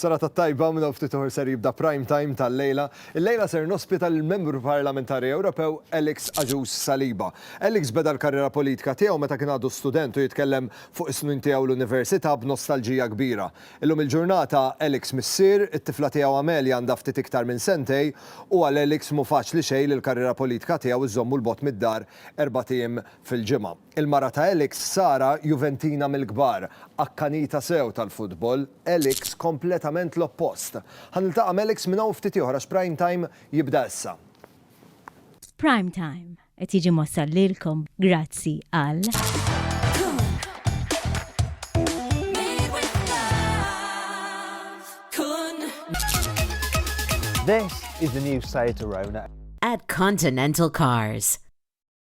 Serata t-tajba, minn hawn ftit uħur ser jibda Prime Time tal-lejla. Illejla ser nospita lill-Membru Parlamentari Ewropew Alex Agius Saliba. Alex beda l-karriera politika tiegħu meta kien għadu student u jitkellem fuq is-snin tiegħu l-Università b'nostalġija kbira. Illum il-ġurnata Alex missier, it-tifla tiegħu Amelia għandha ftit iktar minn sentej u għal Alex mhu faċli xejn li l-karriera politika tiegħu żżommu 'l bogħod mid-dar erbat ijiem fil-ġimgħa. Il-mara ta' Alex, Sara, Juventina mill-kbar, akkanita sew tal-futbol, Alex kompletament l-oppost. Ħa niltaqa' m'Alex minn hawn ftit ieħor għax Prime Time jibda issa. Prime Time qed jiġi mwassal lilkom grazzi għal. This is the new Seat Arona. At Continental Cars.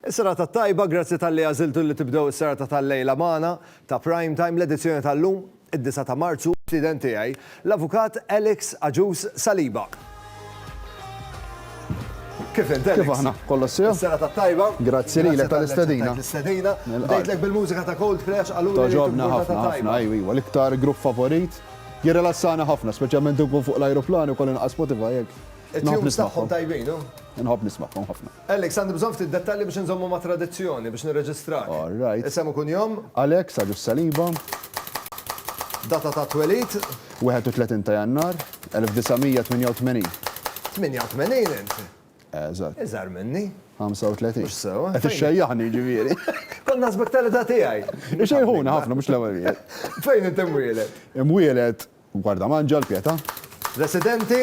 Is-serata t-tajba, grazzi talli għażiltu li tibdew is-serata tal-lejla magħna ta' Prime Time, l-edizzjoni tal-lum, id-disgħa ta' Marzu, b'stieden tiegħi, l-Avukat Alex Agius Saliba. Kif int, Alex? Kif aħna, kollox sew? Is-serata t-tajba. Grazzi lilek tal-istedina. L-istedina. Bdejtlek bil-mużika ta' Coldplay għax qaluli. Toġobna ħafna, ħafna, ejwa, ejwa, l-iktar grupp favorit. Jirrilassana ħafna, speċjalment inkun fuq l-ajruplan u kolli nqas Spotify hekk. It-tjum tagħhom tajbin, hu? Inħobb nismagħhom ħafna. Alex, għandi bżonn ftit dettalji biex inżommu ma' tradizzjoni, biex nirreġistrak. All right. Isem u kunjom? Alex Agius Saliba. Data ta' twelid? 31 ta' Jannar, 1988. 88 int? Eżatt. Iżgħar minni. 35. Mhux sew. Qed ixxejjaħni jiġifieri. Kont naħsbek tal-età tiegħi. Ixejħuna ħafna mhux l-ewwel wieħed. Fejn int imwieled? Imwieled Gwarda Manġa, l-Pietà. Residenti.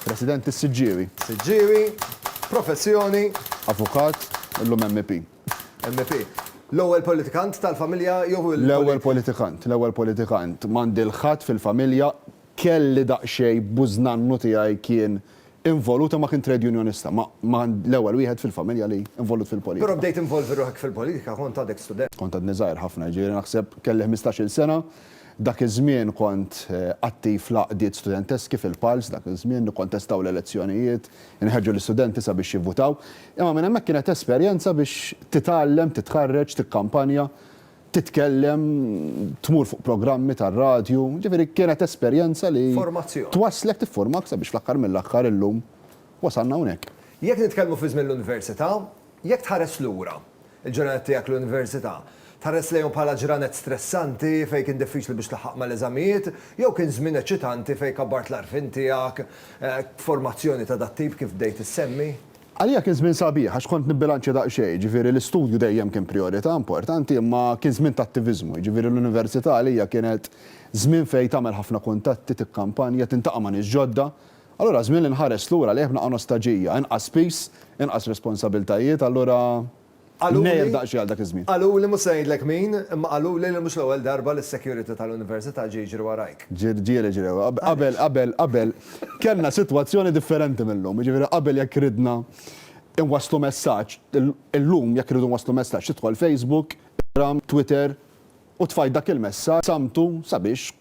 Residenti s-Siġġiewi. Siġġiewi. Professjoni. Avukat, illum MP. MP. L-ewwel politikant tal-familja jew il-politika? L-ewwel politikant, l-ewwel politikant. M'għandi l-ħadd fil-familja, kelli daqsxejn bużnannu tiegħi kien involut imma kien trade unionista. Ma, ma, l-ewwel wieħed fil-familja li involut fil-politika. Però bdejt tinvolvi ruħek fil-politika, kont għadek student. Kont għadni żgħir ħafna, jiġifieri naħseb kelli ħmistax-il sena. Dak iż-żmien kont attiv fl-għaqdiet studenteski fil-PALS, dak iż-żmien nikkontestaw l-elezzjonijiet, inħeġġu l-istudenti sabiex jivvutaw. Imma minn hemmhekk kienet esperjenza biex titgħallem, titħarreġ, tikkampanja, titkellem, tmur fuq programmi tar-radju, jiġifieri kienet esperjenza li twasslek, tifformak sabiex fl-aħħar mill-aħħar illum wasalna hawnhekk. Jekk nitkellmu fi żmien l-università, jekk tħares lura, Il-ġranet tiegħek l-università, tħares lejhom bħala ġranet stressanti fejn kien diffiċli biex tlaħħaq mal-eżamijiet, jew kien żmien eċitanti fejn kabbart l-għarfien tiegħek b'formazzjoni ta' dat-tip kif bdejt issemmi? Għalija kien żmien sabiħ għax kont nibbilanċja daqsxejn, jiġifieri l-istudju dejjem kien prijorità importanti imma kien żmien ta' attiviżmu, jiġifieri l-università għalija kienet żmien fejn tagħmel ħafna kuntatti, tikkampanja, tintaqa' ma' nies ġodda, Allura żmien li nħares lura lejh b'naqqa nostalġija, inqas piż, inqas responsabbiltajiet, allura ngħejjer daqsxejn għal dak iż-żmien. Qaluli, mhux se ngħidlek min, imma qaluli li mhux l-ewwel darba li s-security tal-università ġie jiġri warajk. Ġirġieli ġrew. Qabel, qabel, qabel kellna sitwazzjoni differenti mil-lum. Jiġifieri qabel jekk ridna nwasslu messaġġ, illum jekk irridu nwasslu messaġġ tidħol Facebook, Instagram, Twitter u tfajt dak il-messaġġ, sammtu sabiex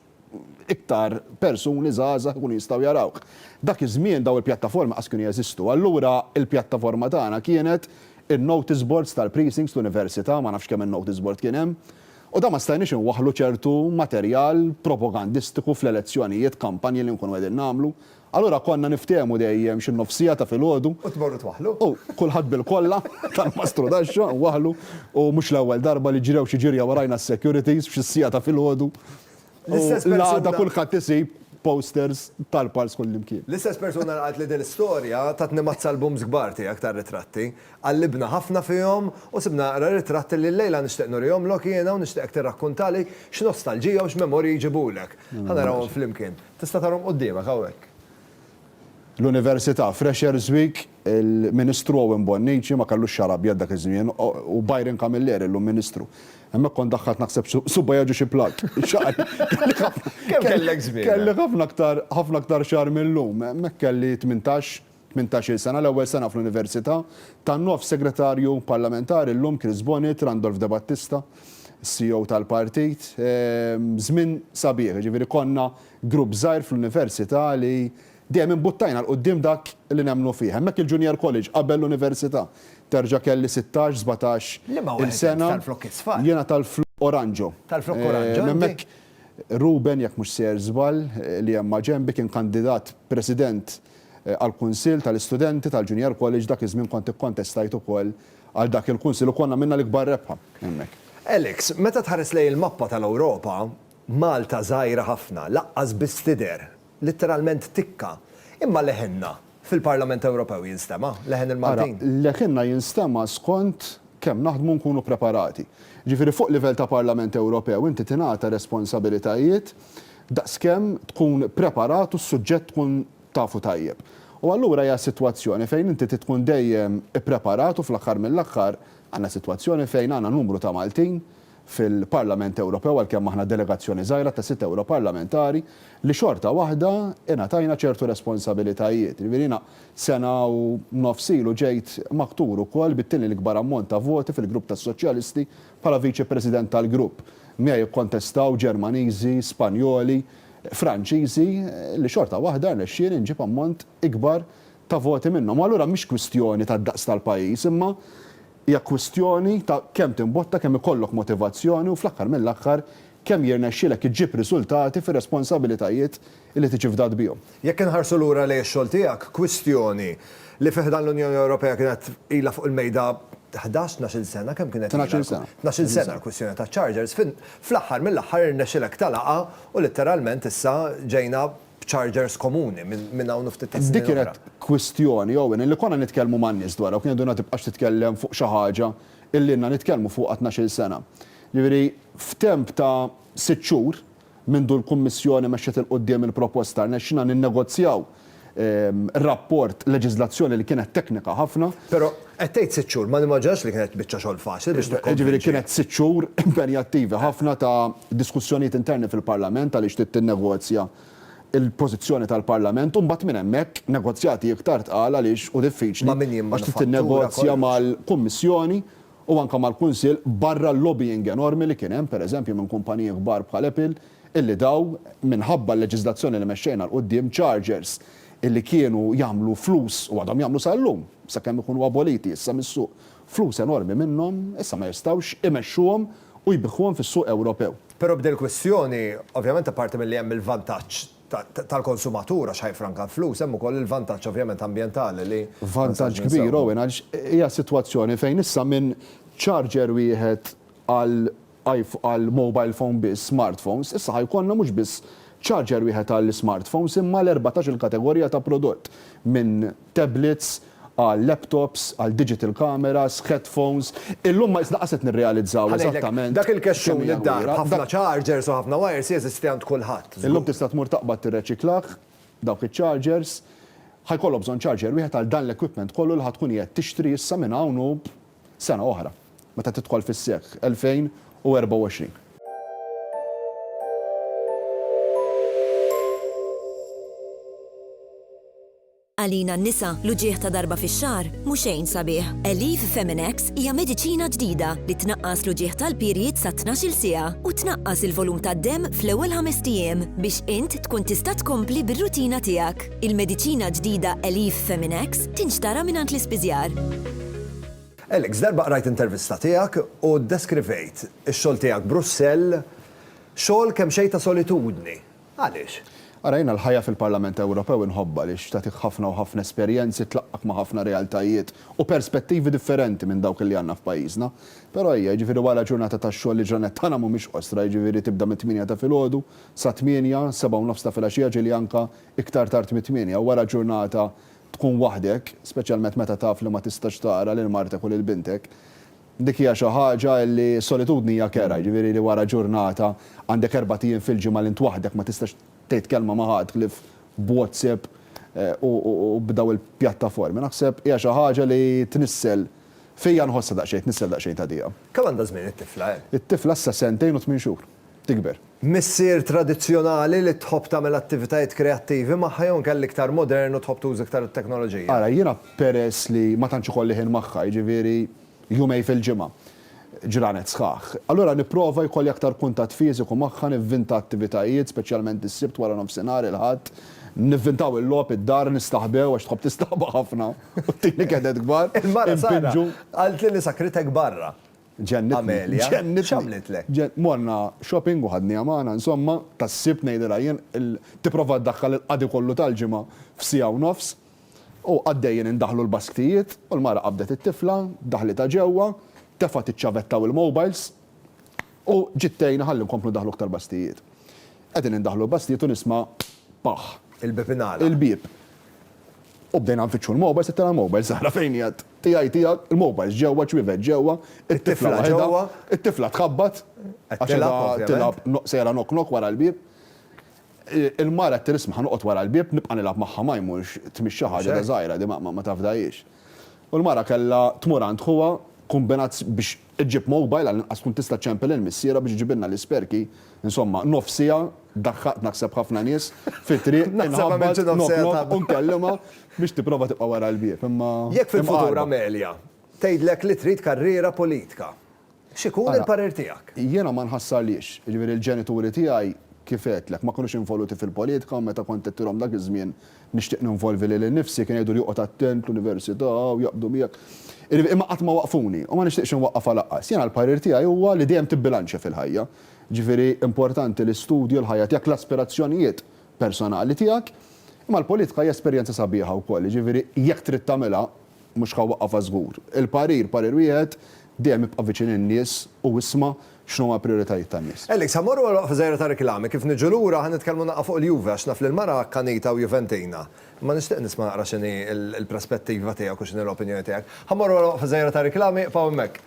iktar persuni żgħażagħ ikunu jistgħu jarawh. Dak iż-żmien dawn il-pjattaformi qas kienu jeżistu. Allura il-pjattaforma tagħna kienet in-notice boards tal-precincts, l-università, ma nafx kemm-il notice board kien hemm. U dan ma stajniex inwaħħlu ċertu materjal propogandistiku fl-elezzjonijiet, kampanji li nkunu qegħdin nagħmlu. Allura konna niftehmu dejjem xi nofsiegħa ta' filgħodu. U tmorru twaħħlu. U kulħadd bil-kolla tal-Mastru Daxxa waħħlu u mhux l-ewwel darba li ġrew xi ġirja warajna s-securities f'xi siegħa ta' filgħodu. U l-għada kulħadd isib posters tal-Pulse kullimkien. L-istess persuna li qalet li din l-istorja tatni mazz albums kbar tiegħek ta' ritratti. Qallibna ħafna fihom u sibna naqra ritratti li llejla nixtieq nurihomlok jiena u nixtieqek tirrakkuntali x'nostalġija u x'memorji jġibulek. Ħa narawhom flimkien. Tista' tarahom quddiemek hawnhekk. L-Università, Freshers Week, il-Ministru Owen Bonnici, ma kellux xagħar abjad dak iż-żmien, u Byron Camilleri, llum Ministru. Hemmhekk kont daħħalt naħseb subgħajja ġo xi plug. Xagħri, kelli ħafna. Kemm kellek żmien? Kelli ħafna aktar, ħafna aktar xagħar mil-lum. Hemmhekk kelli tmintax, Tmintax-il sena l-ewwel sena fl-Università tan-Nofs Segretarju Parlamentari llum Chris Bonnitt, Randolph Debattista, CEO tal-Partit. Żmien sabiħ, jiġifieri konna grupp żgħir fl-Università li dejjem imbuttajna 'l quddiem dak li nemmnu fih. Hemmhekk il-Junior College qabel l-Università terġa' kelli sittax, sbatax-il sena. Liema wieħed int tal-flokk it-tfal? Jiena tal-flokk oranġo. Tal-flokk oranġo int? M'hemmhekk Ruben, jekk mhux sejjer żball, li hemm maġenbi kien kandidat President għall-Kunsill tal-Istudenti tal-Junior College, dak iż-żmien kont ikkontestajt ukoll għal dak il-Kunsill u konna għamilna l-ikbar rebħa hemmhekk. Alex, meta tħares lejn il-mappa tal-Ewropa, Malta żgħira ħafna, lanqas biss tidher, litteralment tikka, imma leħenna, Fil-Parlament Ewropew jinstema' leħen il-Maltin? Ara, leħinna jinstema' skont kemm naħdmu nkunu preparati. Jiġifieri fuq livell ta' Parlament Ewropew inti tingħata responsabilitajiet daqskemm tkun preparat u s-suġġett tkun tafu tajjeb. U allura hija sitwazzjoni fejn inti trid tkun dejjem ippreparat u fl-aħħar mill-aħħar għandna sitwazzjoni fejn għandna numru ta' Maltin fil-Parlament Ewropew għalkemm aħna delegazzjoni żgħira ta' sitt Ewroparlamentari li xorta waħda ingħatajna ċertu responsabilitajiet. Jiġifieri jiena sena u nofs ilu ġejt maqtur ukoll bit-tieni l-ikbar ammont ta' voti fil-grupp tas-Soċjalisti bħala Viċi President tal-grupp. Miegħi kkontestaw Ġermaniżi, Spanjoli, Franċiżi li xorta waħda rnexxieli nġib ammont ikbar ta' voti minnhom. U allura mhix kwistjoni tad-daqs tal-pajjiż imma Hija kwistjoni ta' kemm timbotta, kemm ikollok motivazzjoni u fl-aħħar mill-aħħar kemm jirnexxielek iġġib riżultati fir-responsabilitajiet li tiġi fdat bihom. Jekk inħarsu lura lejn ix-xogħol tiegħek, kwistjoni li fi ħdan l-Unjoni Ewropea kienet ilha fuq il-mejda ħdax, tnax-il sena, kemm kienet ilha? Tnax-il sena. Tnax-il sena l-kwistjoni taċ-chargers, fl-aħħar mill-aħħar irnexxielek tagħlaqha u litteralment issa ġejna, b'chargers komuni minn hawn u ftit snin oħra. Dik kienet kwistjoni, Owen, illi konna nitkellmu man-nies dwarha u kien jgħidulna tibqax titkellem fuq xi ħaġa illi ilna nitkellmu fuqha tnax-il sena. Jiġifieri f'temp ta' sitt xhur mindu l-Kummissjoni mexxiet 'il quddiem il-proposta rnexxina ninnegozjaw rapport leġiżlazzjoni li kienet teknika ħafna. Però Qed tgħid sitt xhur, ma nimmaġinax li kienet biċċa xogħol faċli biex tikkonvinċi. Jiġifieri kienet sitt xhur impenjattivi ħafna ta' diskussjonijiet interni fil-Parlament għaliex trid tinnegozja l-pożizzjoni tal-Parlament u mbagħad minn hemmhekk negozjati iktar tqal għaliex hu diffiċli għax trid tinnegozja mal-Kummissjoni u anke mal-Kunsill barra l-lobbying enormi li kien hemm pereżempju minn kumpaniji kbar bħal Apple illi daw minħabba l-leġiżlazzjoni li mexxejna 'l quddiem chargers illi kienu jagħmlu flus u għadhom jagħmlu sa llum, sakemm ikunu aboliti issa mis-suq, flus enormi minnhom, issa ma jistgħux imexxuhom u jbiħħuhom fis-suq Ewropew. Però b'din il-kwistjoni, ovvjament apparti milli hemm il-vantaġġ tal-konsumatur għax ħajfranka l-flus, hemm ukoll il-vantaġġ ovvjament ambjentali li ma nistax ninsewh. Vantaġġ kbir, Owen, għaliex hija sitwazzjoni fejn issa minn charger wieħed għal iPh għal mobile phone biss, smartphones, issa ħa jkollna mhux biss charger wieħed għall-ismartphones imma l-erbatax-il kategorija ta' prodott, minn tablets għal laptops, għal digital cameras, headphones. Illum ma qisna qas qed nirrealizzaw Ħa ngħidlek, eżattament dak il-kexxun kemm hija id-daheb kbira. Dak b'ħafna chargers u ħafna wires jeżisti għand kulħadd, Illum żgur. tista' tmur taqbad tirreċiklah, dawk iċ-chargers. Ħa jkollok bżonn charger wieħed għal dan l-equipment kollu li ħa tkun qiegħed tixtri issa minn hawn u Sena oħra, meta tidħol fis-seħħ 2024. Għalina n-nisa, l-uġigħ ta' darba fix-xahar mhu xejn sabiħ. Elif Feminex hija mediċina ġdida li tnaqqas l-uġigħ tal-period sa tnax-il siegħa u tnaqqas il-volum tad-demm fl-ewwel ħamest ijiem biex int tkun tista' tkompli bir-rutina tiegħek. Il-mediċina ġdida Elif Feminex tinxtara mingħand l-ispiżjar. Alex, darba qrajt intervista tiegħek u ddeskrivejt ix-xogħol tiegħek Brussell, xogħol kemxejn ta' solitudni. Għaliex? Ara jiena l-ħajja fil-Parlament Ewropew inħobbha għaliex tagħtik ħafna u ħafna esperjenzi, tlaqqgħek ma' ħafna realtajiet u perspettivi differenti minn dawk li għandna f'pajjiżna. Però hija, jiġifieri wara ġurnata ta' xogħol li ġranet tagħna mhumiex qosra, jiġifieri tibda mit-tmienja ta' filgħodu sat-tmienja, seba' u nofs ta' filgħaxija ġieli anke iktar tard mit-tmienja, wara ġurnata tkun waħdek, speċjalment meta taf li ma tistax tara lil martek u lil bintek. Dik hija xi ħaġa li s-solitudni hija kerha, jiġifieri li wara ġurnata għandek erbat ijiem fil-ġimgħa li int waħdek ma tistax tgħid kelma ma' ħadd ħlief b'Whatsapp u b'dawn il-pjattaformi. Naħseb hija xi ħaġa li tnissel, fija nħossha daqsxejn, tnissel daqsxejn ta' diqa. Kemm għandha żmien it-tifla? It-tifla issa sentejn u tmien xhur. tikber. Missier tradizzjonali li tħobb tagħmel attivitajiet kreattivi magħha jew inkella iktar modern u tħobb tuża iktar it-teknoloġija? Ara, jiena peress li ma tantx ikolli ħin magħha, jiġifieri jumejn fil-ġimgħa, ġranet sħaħ, allura nipprova jkolli aktar kuntatt fiżiku magħha, nivvinta attivitajiet, speċjalment is-Sibt wara nofsinhar, il-Ħadd, nivvintaw il-logħob id-dar, nistaħbew għax tħobb tistaħba ħafna u ttini kegħdet kbar, inpinġu. Il-mara Sara qaltli li sakritek barra. Amelia, x'għamlitlek? Morna shopping u ħadniha magħna, insomma, tas-Sibt ngħidilha jien, tipprova ddaħħal il-qadi kollu tal-ġimgħa f'siegħa u nofs. U għaddejjin indaħħlu l-basktijiet u l-mara qabdet it-tifla, daħlitha ġewwa, tefgħet iċ-ċavetta u l-mobiles u ġiet tgħinna ħalli nkomplu ndaħħlu aktar bastijiet. Qegħdin indaħħlu l-bastijiet u nisma' paħħ. Il-bieb ingħalaq. Il-bieb. U bdejna nfittxu l-mobiles, għedtilha l-mobiles ara fejn qiegħed. Tiegħi tiegħek, il-mobiles ġewwa, ċwievet ġewwa, it-tifla waħedha, it-tifla tħabbat għax qiegħda tilgħab sejra knock knock wara l-bieb. Il-mara qed tirisma' ħa noqgħod wara l-bieb nibqa' nilgħab magħha ma jmurx tmix xi ħaġa ta' żgħira di ma tafdahiex. U l-mara kellha tmur għand ħuha biex Iġġib mowbajl għall-inqas tkun tista' ċċempel lil missierha biex iġibilna l-isperki. Insomma, nofs siegħa, daħħaqt naħseb b'ħafna nies fit-triq, inħabbat, noknok u nkellimha biex tipprova tibqa' wara l-bieb, imma imqarrba. Jekk fil-futur Amelia tgħidlek li trid karriera politika, x'ikun il-parir tiegħek? Ara, jiena ma nħassarlhiex. Jiġifieri l-ġenituri tiegħi, kif għedtlek, ma kinux involuti fil-politika u meta kont għedtilhom dak iż-żmien Nixtieq ninvolvi lili nnifsi, kienu jgħiduli oqgħod attent, l-università, u jaqbdu miegħek. Imma qatt ma waqqfuni, u ma nixtieqx inwaqqafha lanqas. Jiena l-parir tiegħi huwa li dejjem tibbilanċja fil-ħajja. Jiġifieri importanti l-istudju, l-ħajja tiegħek, l-aspirazzjonijiet personali tiegħek. Imma l-politika hija esperjenza sabiħa wkoll, jiġifieri jekk trid tagħmilha, Mhux ħa waqafha żgur. Il-parir, parir wieħed, dejjem ibqa' viċin in-nies u isma' x'nhuma l-prijoritajiet tan-nies. Alex, ħa mmorru għal waqfa żgħira ta' riklami. Kif niġu lura ħa nitkellmu naqra fuq il-Juve għax naf li l-mara akkanita u Juventina. Imma nixtieq nisma' naqra x'inhi l-prospettiva tiegħek u x'inhi l-opinjoni tiegħek. Ħa mmorru għal waqfa żgħira ta' riklami, ibqgħu hemmhekk.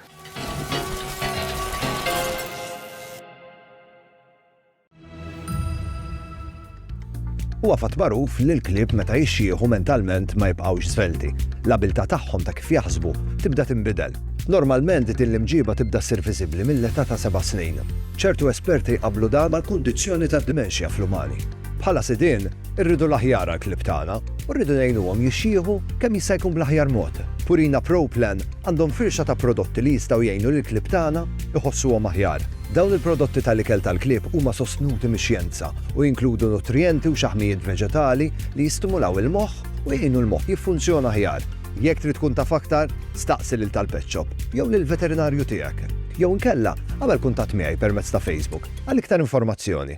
Huwa fatt magħruf li l-klieb meta jixjieħu mentalment ma jibqgħux żvelti. L-abiltà tagħhom ta' kif jaħsbu tibda tinbidel. Normalment din l-imġiba tibda ssir viżibbli mill-età ta' seba' snin. Ċertu esperti jqabblu dan mal-kundizzjoni tad-demenxja fl-umani. Bħala sidien, irridu l-aħjar għall-klieb tagħna u rridu ngħinuhom jixjieħu kemm jista' jkun bl-aħjar mod. Purina Pro Plan għandhom firxa ta' prodotti li jistgħu jgħinu lill-klieb tagħna jħossuhom aħjar. Dawn il-prodotti tal-ikel tal-klieb huma sostnuti mix-xjenza u jinkludu nutrijenti u xaħmijiet veġetali li jistimulaw il-moħħ u jgħinu l-moħħ jiffunzjona aħjar. Jekk trid tkun taf aktar, staqsi lil tal-pet shop jew lill-veterinarju tiegħek. Jew inkella, agħmel kuntatt miegħi permezz ta' Facebook għal iktar informazzjoni.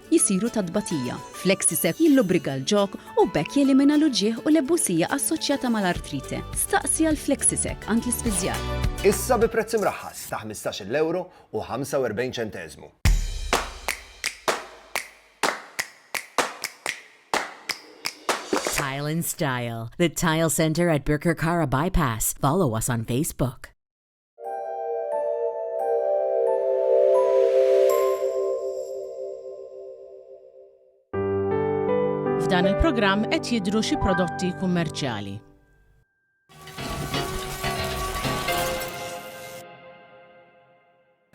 jsiru ta' tbatija. Flexisec jillubrika l-ġog u b'hekk jelimina l-uġigħ u l-ebusija assoċjata mal-artrite. Staqsi għal Flexisec għand l-ispiżjar. Issa bi prezz imraħħas ta' ħmistax-il ewro u ħamsa u erbgħin ċenteżmu. Tile and Style, The Tile Centre at Birkirkara Bypass. Follow us on Facebook. F'dan il-programm qed jidhru xi prodotti kummerċjali.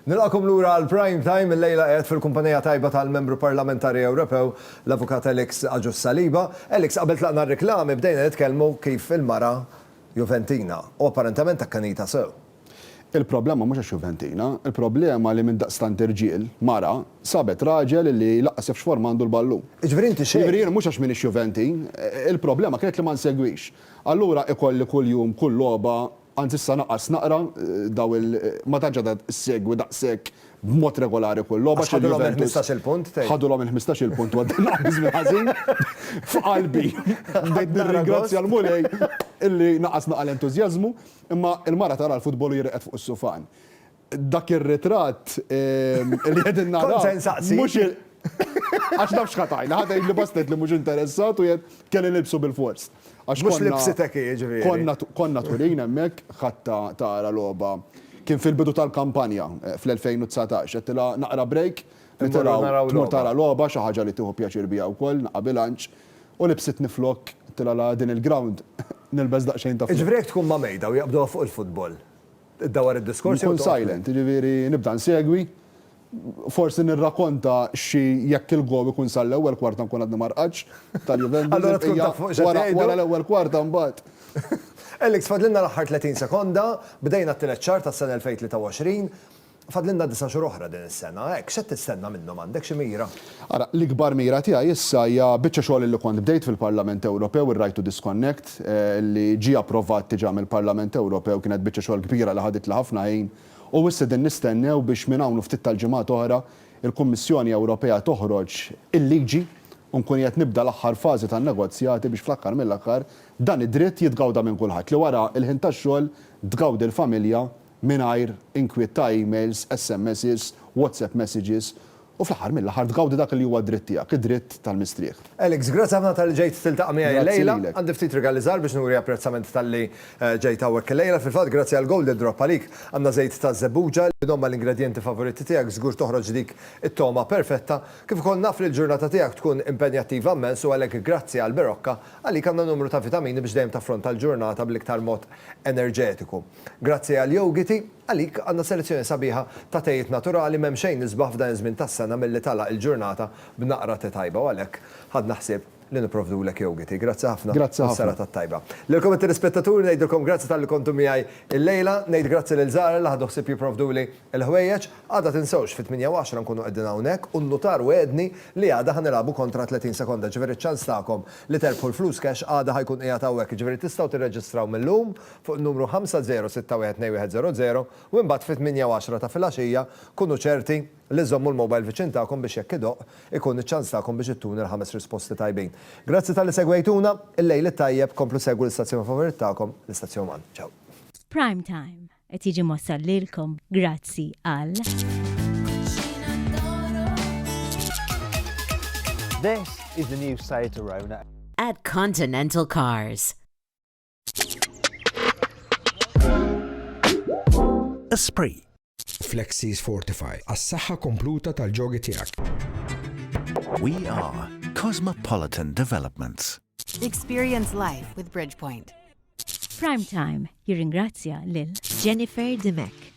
Nilqakom lura għal prime time il-lejla qed fil-kumpanija tajba tal-Membru Parlamentari Ewropew, l-Avukat Alex Agius Saliba. Alex, qabel tlaqna r-reklami bdejna nitkellmu kif il-mara Juventina, u apparentement akkanita sew. Il-problema mhux ex-Juventina, il-problema li minn daqstant irġiel, mara, sabet raġel li laqqas jaf x'forma għandu l-ballun. Jiġifieri inti xejn. Jiġifieri jien mhux għax m'iniex Juventin, il-problema kienet li ma nsegwix. Allura ikolli kuljum kull logħba, anzi issa naqas naqra dawn il-, ma tantx għad issegwi daqshekk b'mod regolari kull logħba. Għax ħadulhom il-ħmistax il punt, tgħid? Ħadulhom il-ħmistax il punt u għaddejna qabiż mill-ħażin f'qalbi. Bdejt nirringrazzja l-Mulej illi naqas naqa' l-entużjażmu, imma l-mara tara l-futbol u jirqed fuq is-sufan. Dak ir-ritratt li qegħdin naraw. Kont se nsaqsi. Għax naf x'ħatajna, ħa tgħidli bastet li mhux interessat u jgħid kelli nilbsu bil-fors. Għax Mhux libsitek hi, jiġifieri. konna tu- konna Turin hemmhekk ħadtha tara logħba. Kien fil-bidu tal-kampanja eh, fl-2019 għedtilha naqra break li Immorru tilgħu naraw tmur logħba. tara logħba xi ħaġa li tieħu pjaċir biha wkoll, naqra bilanċ u libsitni flokk tilha la din il-ground nilbes daqsxejn ta' flokk. Jiġifieri jekk tkun ma' mejda u jaqbduha fuq il-futbol. Iddawwar id-diskors jew. Inkun silent, jiġifieri nibda nsegwi, forsi nirrakonta xi jekk il-goal ikun sar l-ewwel kwarta nkun għadni ma rqadtx tal-Juventus. Allura tkun taf fuq x'qed ngħidu. Wara l-ewwel kwarta mbagħad. Alex, fadlilna l-aħħar 30 sekonda, bdejna t-tielet xahar tas-sena 2023, Fadlilna disa' xhur oħra din is-sena, hekk, x'qed tistenna minnhom, għandek xi mira? Ara, l-ikbar mira tiegħi issa hija biċċa xogħol li kont bdejt fil-Parlament Ewropew, ir-Right to Disconnect, li ġie approvat diġà mill-Parlament Ewropew, kienet biċċa xogħol kbira li ħaditli ħafna ħin, u issa qegħdin nistennew biex minn hawn u ftit tal-ġimgħat oħra l-Kummissjoni Ewropea toħroġ il-liġi u nkun qiegħed nibda l-aħħar fażi tan-negozjati biex fl-aħħar mill-aħħar dan id-dritt jitgawda minn kulħadd, li wara l-ħin tax-xogħol tgawdi l-familja mingħajr inkwiet ta' emails, SMSs, WhatsApp messages, u fl-aħħar mill-aħħar tgawdi dak li huwa d-dritt tiegħek, id-dritt tal-mistrieħ. Alex, grazzi ħafna talli ġejt tiltaqa' miegħi illejla. Għandi ftit rigali żgħar biex nuri apprezzament talli ġejt hawnhekk illejla. Fil-fatt, grazzi għall-Golden Drop għalik għandna żejt ta' żebbuġa li jdomm mal-ingredjenti favoritti tiegħek żgur toħroġ dik it-togħma perfetta. Kif ukoll naf li l-ġurnata tiegħek tkun impenjattiva mmens u għalhekk grazzi għall-Berocca għalik għandna numru ta' vitamini biex dejjem taffronta l-ġurnata bl-iktar mod enerġetiku. Grazzi għal Yogiti, għalik għandna selezzjoni sabiħa ta' tejiet naturali m'hemm xejn isbaħ f'dan iż-żmien tas-sena milli tagħlaq il-ġurnata b'naqra te tajba u għalhekk ħadna ħsieb li nipprovdulek Yogiti. Grazzi ħafna u s-serata t-tajba. Lilkom it-telespettaturi ngħidilkom grazzi talli kontu miegħi illejla. Ngħid grazzi lil Zahra li ħadu ħsieb jipprovduli l-ħwejjeġ. Għada tinsewx fit-tmienja u għaxra nkunu qegħdin hawnhekk u n-nutar wegħedni li għada ħa nilagħbu kontra 30 sekonda ġifieri ċ-ċans tagħkom li terbħu l-flus cash għada ħa jkun qiegħed hawnhekk ġifieri tistgħu tirreġistraw mil-lum fuq numru 50612100 u imbagħad fit-tmienja u għaxra ta' filgħaxija kunu ċerti li żżommu l-mobile viċin tagħkom biex jekk idoqq ikun iċ-ċans tagħkom biex ittuni l-ħames risposti tajbin. Grazzi talli segwejtuna, il-lejl it-tajjeb, komplu segwu l-istazzjon favorit tagħkom, l-istazzjon one. Ciao. Prime Time qed jiġi mwassal lilkom grazzi għal. This is the new Seat Arona. At Continental Cars. Esprit. Flexies Fortify għas-saħħa kompluta tal-ġogi tiegħek. We are Cosmopolitan Developments. Experience life with Bridgepoint. Prime Time jirringrazzja lil Jennifer Dimech.